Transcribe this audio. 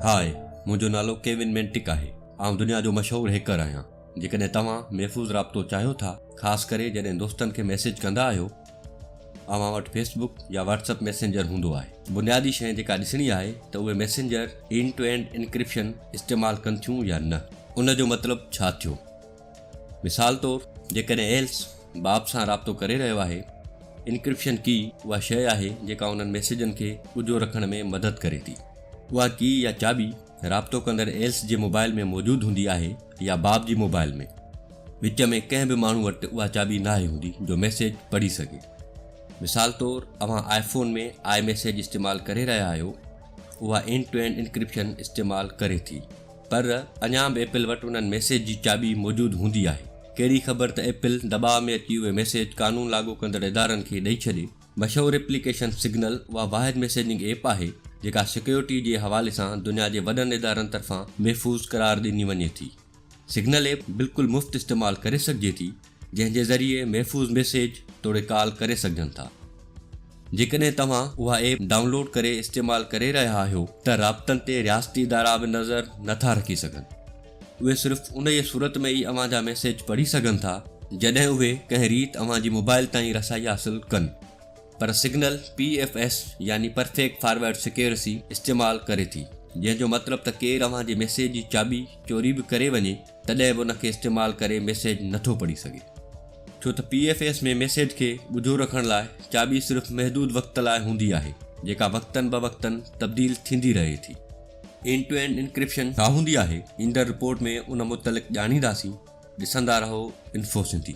High, منهنجو نالو Kevin مينٽڪ آهي. آئون دنيا جو مشهور هيڪر آهيان. جيڪڏهن توهان محفوظ رابطو چاهيو ٿا، خاص ڪري جڏهن دوستن کي ميسيج ڪندا آهيو، اوهان وٽ فيس بڪ يا واٽس اپ ميسينجر هوندو آهي. بنيادي شيء جيڪا ڏسڻي آهي ته اهي messenger end to end encryption استعمال ڪن ٿيون يا نه. ان جو مطلب ڇا ٿيو؟ مثال طور جيڪڏهن ايلس باب سان رابطو ڪري رهيو آهي، انڪرپشن ڪي اها شيء آهي جيڪا انهن ميسيجن کي ڳجهو رکڻ ۾ مدد ڪري ٿي. اها ڪي يا چاٻي رابطو ڪندڙ ايلس جي موبائل ۾ موجود هوندي آهي يا باب جي موبائل ۾. وچ ۾ ڪنهن به ماڻهو وٽ اها چاٻي ناهي هوندي جو ميسيج پڙهي سگهي. مثال طور اوهان آئي فون ۾ آئي ميسيج استعمال ڪري رهيا آهيو، اها اينڊ ٽو اينڊ انڪرپشن استعمال ڪري ٿي. پر اڃا به ايپل وٽ انهن ميسيج جي چاٻي موجود هوندي آهي. ڪهڙي خبر ته ايپل دٻاء ۾ اچي اهي ميسيج قانون لاڳو ڪندڙ ادارن کي ڏئي ڇڏي. مشهور ايپليڪيشن سگنل اها واحد ميسيجنگ ايپ آهي جيڪا سيڪيورٽي جي حوالي سان دنيا جي وڏن ادارن طرفان محفوظ قرار ڏني وڃي ٿي. سگنل ايپ بلڪل مفت استعمال ڪري سگهجي ٿي. جنهن جي ذريعي محفوظ ميسيج توڙي ڪال ڪري سگهجن ٿا. جيڪڏهن توهان اها ايپ ڊائونلوڊ ڪري استعمال ڪري رهيا آهيو ته رابطن تي رياستي ادارا به نظر نه ٿا رکي سگهن. اهي صرف انهيء صورت ۾ ئي اوهان جا ميسيج پڙهي سگهن ٿا جڏهن اهي ڪنهن ريت اوهان جي موبائل تائين رسائي حاصل ڪن پر سگنل پي ايف ايس يعني پرفيڪٽ فارورڊ سيڪيورسي استعمال ڪري ٿي جنهن جو مطلب ته ڪير اوهان جي ميسيج جي چاٻي چوري به ڪري وڃي تڏهن به ان کي استعمال ڪري ميسيج نٿو پڙهي سگهي ڇو ته پي ايف ايس ۾ ميسيج کي ڳجهو رکڻ لاء چاٻي صرف محدود وقت لاء هوندي آهي جيڪا وقتن بوقتن تبديل ٿيندي رهي ٿي. اينڊ ٽو اينڊ انڪرپشن ڇا هوندي آهي؟ ايندڙ رپورٽ ۾ ان متعلق ڄاڻينداسين، ڏسندا رهو انفو سنڌي.